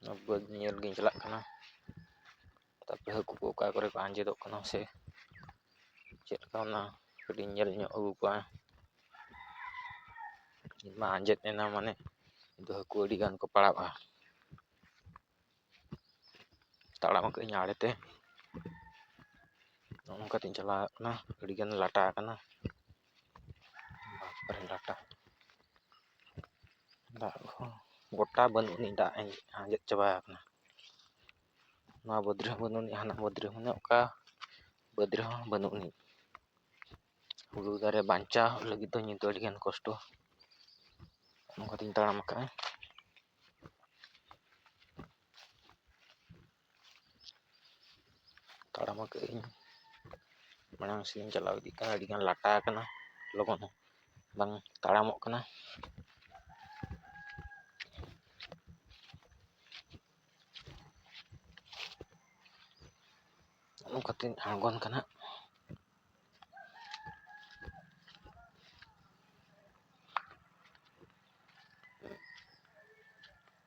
ᱚᱱᱟ ᱵᱟᱹᱫᱽ ᱧᱮᱞ ᱜᱤᱧ ᱪᱟᱞᱟᱜ ᱠᱟᱱᱟ ᱛᱟᱨᱯᱚᱨᱮ ᱦᱟᱹᱠᱩ ᱠᱚ ᱚᱠᱟ ᱠᱚᱨᱮ ᱠᱚ ᱟᱸᱡᱮᱫᱚᱜ ᱠᱟᱱᱟ ᱥᱮ ᱪᱮᱫ ᱞᱮᱠᱟ ᱚᱱᱟ ᱠᱟᱹᱴᱤᱡ ᱧᱮᱞ ᱧᱚᱜ ᱟᱹᱜᱩ ᱠᱚᱣᱟ ᱤᱧ ᱢᱟ ᱟᱸᱡᱮᱫ ᱮᱱᱟ ᱢᱟᱱᱮ ᱱᱤᱛᱚᱜ ᱦᱟᱹᱠᱩ ᱟᱹᱰᱤ ᱜᱟᱱ ᱠᱚ ᱯᱟᱲᱟᱜᱼᱟ ᱛᱟᱲᱟᱢ ᱟᱠᱟᱫ ᱟᱹᱧ ᱟᱲᱮᱛᱮ ᱱᱚᱜᱼᱚ ᱱᱚᱝᱠᱟᱛᱤᱧ ᱪᱟᱞᱟᱣ ᱦᱮᱡ ᱠᱟᱱᱟ ᱟᱹᱰᱤᱜᱟᱱ ᱞᱟᱴᱟ ᱟᱠᱟᱱᱟ ᱵᱟᱯᱨᱮ ᱰᱟᱴᱟ ᱫᱟᱜ ᱦᱚᱸ ᱜᱚᱴᱟ ᱵᱟᱹᱱᱩᱜ ᱟᱹᱱᱤᱡ ᱫᱟᱜ ᱟᱸᱡᱮᱫ ᱪᱟᱵᱟ ᱟᱠᱟᱱᱟ ᱱᱚᱣᱟ ᱵᱟᱹᱫᱽ ᱨᱮᱦᱚᱸ ᱵᱟᱹᱱᱩᱜ ᱟᱹᱱᱤᱡ ᱦᱟᱱᱟ ᱵᱟᱹᱫᱽ ᱨᱮᱦᱚᱸ ᱢᱟᱱᱮ ᱚᱠᱟ ᱵᱟᱹᱫᱽ ᱨᱮᱦᱚᱸ ᱵᱟᱹᱱᱩᱜ ᱟᱹᱱᱤᱡ ᱦᱩᱲᱩ ᱫᱟᱨᱮ ᱵᱟᱧᱪᱟᱣ ᱞᱟᱹᱜᱤᱫ ᱫᱚ ᱱᱤᱛ ᱫᱚ ᱟᱹᱰᱤᱜᱟᱱ ᱠᱚᱥᱴᱚ ᱚᱱᱠᱟᱛᱤᱧ ᱛᱟᱲᱟᱢ ᱟᱠᱟᱫᱼᱟ ᱛᱟᱲᱟᱢ ᱟᱠᱟᱫ ᱟᱹᱧ ᱢᱟᱲᱟᱝ ᱥᱮᱫ ᱤᱧ ᱪᱟᱞᱟᱣ ᱤᱫᱤᱜ ᱠᱟᱱᱟ ᱟᱹᱰᱤ ᱜᱟᱱ ᱞᱟᱴᱟ ᱟᱠᱟᱱᱟ ᱞᱚᱜᱚᱱ ᱦᱚᱸ ᱵᱟᱝ ᱛᱟᱲᱟᱢᱚᱜ ᱠᱟᱱᱟ ᱚᱱᱠᱟᱛᱮᱧ ᱟᱬᱜᱚᱱ ᱠᱟᱱᱟ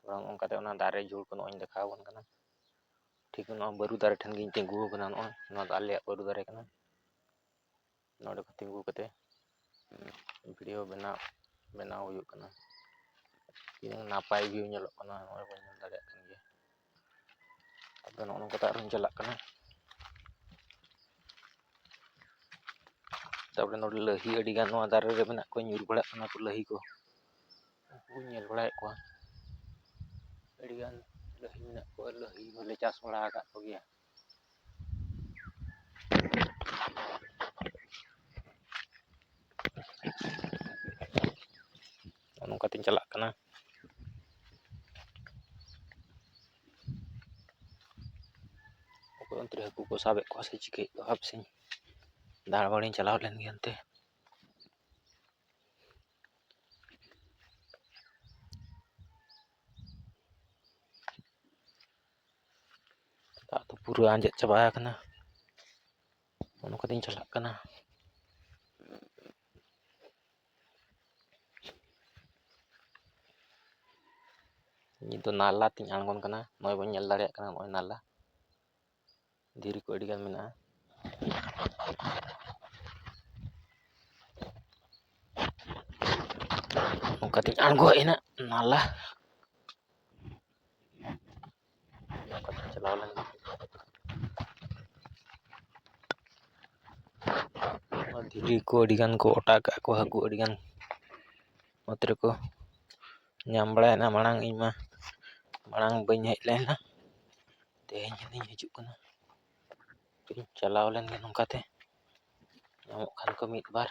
ᱛᱷᱚᱲᱟ ᱱᱚᱜᱼᱚ ᱱᱚᱝᱠᱟᱛᱮ ᱚᱱᱟ ᱫᱟᱨᱮ ᱡᱷᱩᱲ ᱠᱚ ᱱᱚᱜᱼᱚᱭ ᱤᱧ ᱫᱮᱠᱷᱟᱣ ᱟᱵᱚᱱ ᱠᱟᱱᱟ ᱴᱷᱤᱠ ᱱᱚᱣᱟ ᱵᱟᱹᱨᱩ ᱫᱟᱨᱮ ᱴᱷᱮᱱ ᱜᱤᱧ ᱛᱤᱸᱜᱩ ᱟᱠᱟᱱᱟ ᱱᱚᱜᱼᱚᱭ ᱱᱚᱣᱟ ᱫᱚ ᱟᱞᱮᱭᱟᱜ ᱵᱟᱹᱨᱩ ᱫᱟᱨᱮ ᱠᱟᱱᱟ ᱱᱚᱰᱮ ᱠᱷᱚᱱ ᱛᱤᱸᱜᱩ ᱠᱟᱛᱮ ᱵᱷᱤᱰᱭᱳ ᱵᱮᱱᱟᱣ ᱵᱮᱱᱟᱣ ᱦᱩᱭᱩᱜ ᱠᱟᱱᱟ ᱛᱤᱱᱟᱹᱝ ᱱᱟᱯᱟᱭ ᱵᱷᱤᱭᱩ ᱧᱮᱞᱚᱜ ᱠᱟᱱᱟ ᱱᱚᱜᱼᱚᱭ ᱵᱚᱱ ᱧᱮᱞ ᱫᱟᱲᱮᱭᱟᱜ ᱠᱟᱱ ᱜᱮᱭᱟ ᱟᱫᱚ ᱱᱚᱜᱼᱚ ᱱᱚᱝᱠᱟ ᱛᱮ ᱟᱨᱦᱚᱸᱧ ᱪᱟᱞᱟᱜ ᱠᱟᱱᱟ ᱛᱟᱯᱚᱨᱮ ᱱᱚᱰᱮ ᱞᱟᱹᱦᱤ ᱟᱹᱰᱤ ᱜᱟᱱ ᱱᱚᱣᱟ ᱫᱟᱨᱮ ᱨᱮ ᱢᱮᱱᱟᱜ ᱠᱚᱣᱟ ᱧᱩᱨ ᱵᱟᱲᱟᱜ ᱠᱟᱱᱟ ᱠᱚ ᱞᱟᱹᱦᱤ ᱠᱚ ᱩᱱᱠᱩᱧ ᱧᱮᱞ ᱵᱟᱲᱟᱭᱮᱫ ᱠᱚᱣᱟ ᱟᱹᱰᱤ ᱜᱟᱱ ᱞᱟᱹᱦᱤ ᱢᱮᱱᱟᱜ ᱠᱚᱣᱟ ᱞᱟᱹᱦᱤ ᱦᱚᱸᱞᱮ ᱪᱟᱥ ᱵᱟᱲᱟ ᱟᱠᱟᱫ ᱠᱚᱜᱮᱭᱟ ᱱᱚᱜᱼᱚ ᱱᱚᱝᱠᱟ ᱛᱤᱧ ᱪᱟᱞᱟᱜ ᱠᱟᱱᱟ ᱚᱠᱚᱭ ᱚᱱᱛᱮ ᱨᱮ ᱦᱟᱹᱠᱩ ᱠᱚ ᱥᱟᱵᱮᱫ ᱠᱚᱣᱟ ᱥᱮ ᱪᱤᱠᱟᱹᱭᱮᱫ ᱠᱚᱣᱟ ᱦᱟᱯᱮᱥᱮᱧ ᱫᱟᱬᱟ ᱵᱟᱲᱟᱧ ᱪᱟᱞᱟᱣ ᱞᱮᱱ ᱜᱮ ᱚᱱᱛᱮ ᱫᱟᱜ ᱫᱚ ᱯᱩᱨᱟᱹ ᱟᱸᱡᱮᱫ ᱪᱟᱵᱟ ᱟᱠᱟᱱᱟ ᱚᱱᱟ ᱠᱚᱛᱮᱧ ᱪᱟᱞᱟᱜ ᱠᱟᱱᱟ ᱱᱤᱛ ᱫᱚ ᱱᱟᱞᱟ ᱛᱮᱧ ᱟᱬᱜᱚᱱ ᱠᱟᱱᱟ ᱱᱚᱜᱼᱚᱭ ᱵᱚᱱ ᱧᱮᱞ ᱫᱟᱲᱮᱭᱟᱜ ᱠᱟᱱᱟ ᱱᱚᱜᱼᱚᱭ ᱱᱟᱞᱟ ᱫᱷᱤᱨᱤ ᱠᱚ ᱟᱹᱰᱤᱜᱟᱱ ᱢᱮᱱᱟᱜᱼᱟ ᱚᱱᱠᱟᱛᱤᱧ ᱟᱬᱜᱚ ᱦᱮᱡ ᱮᱱᱟ ᱱᱟᱞᱟ ᱚᱱᱠᱟᱛᱤᱧ ᱪᱟᱞᱟᱣ ᱞᱮᱱ ᱫᱷᱤᱨᱤ ᱠᱚ ᱟᱹᱰᱤᱜᱟᱱ ᱠᱚ ᱚᱴᱟ ᱠᱟᱜᱼᱟ ᱠᱚ ᱦᱟᱹᱠᱩ ᱟᱹᱰᱤᱜᱟᱱ ᱚᱛ ᱨᱮᱠᱚ ᱧᱟᱢ ᱵᱟᱲᱟᱭᱮᱱᱟ ᱢᱟᱲᱟᱝ ᱤᱧᱢᱟ ᱢᱟᱲᱟᱝ ᱵᱟᱹᱧ ᱦᱮᱡ ᱞᱮᱱᱟ ᱛᱮᱦᱮᱧ ᱦᱟᱸᱜ ᱦᱤᱡᱩᱜ ᱠᱟᱱᱟ ᱛᱮᱦᱮᱧ ᱪᱟᱞᱟᱣ ᱞᱮᱱ ᱜᱮ ᱱᱚᱝᱠᱟ ᱛᱮ ᱧᱟᱢᱚᱜ ᱠᱷᱟᱱ ᱠᱚ ᱢᱤᱫ ᱵᱟᱨ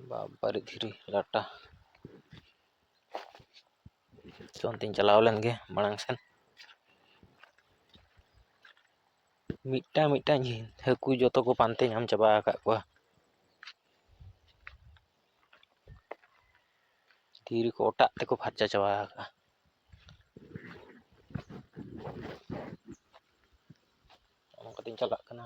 ᱵᱟᱵᱟᱨᱮ ᱫᱷᱤᱨᱤ ᱞᱟᱴᱟ ᱛᱚ ᱚᱱᱛᱮᱧ ᱪᱟᱞᱟᱣ ᱞᱮᱱ ᱜᱮ ᱢᱟᱲᱟᱝ ᱥᱮᱱ ᱢᱤᱫᱴᱟᱝ ᱢᱤᱫᱴᱟᱝ ᱦᱟᱹᱠᱩ ᱡᱚᱛᱚ ᱠᱚ ᱯᱟᱱᱛᱮ ᱧᱟᱢ ᱪᱟᱵᱟ ᱟᱠᱟᱫ ᱠᱚᱣᱟ ᱫᱷᱤᱨᱤ ᱠᱚ ᱚᱴᱟᱜ ᱛᱮᱠᱚ ᱯᱷᱟᱨᱪᱟ ᱪᱟᱵᱟ ᱟᱠᱟᱜᱼᱟ ᱚᱱᱠᱟᱛᱤᱧ ᱪᱟᱞᱟᱜ ᱠᱟᱱᱟ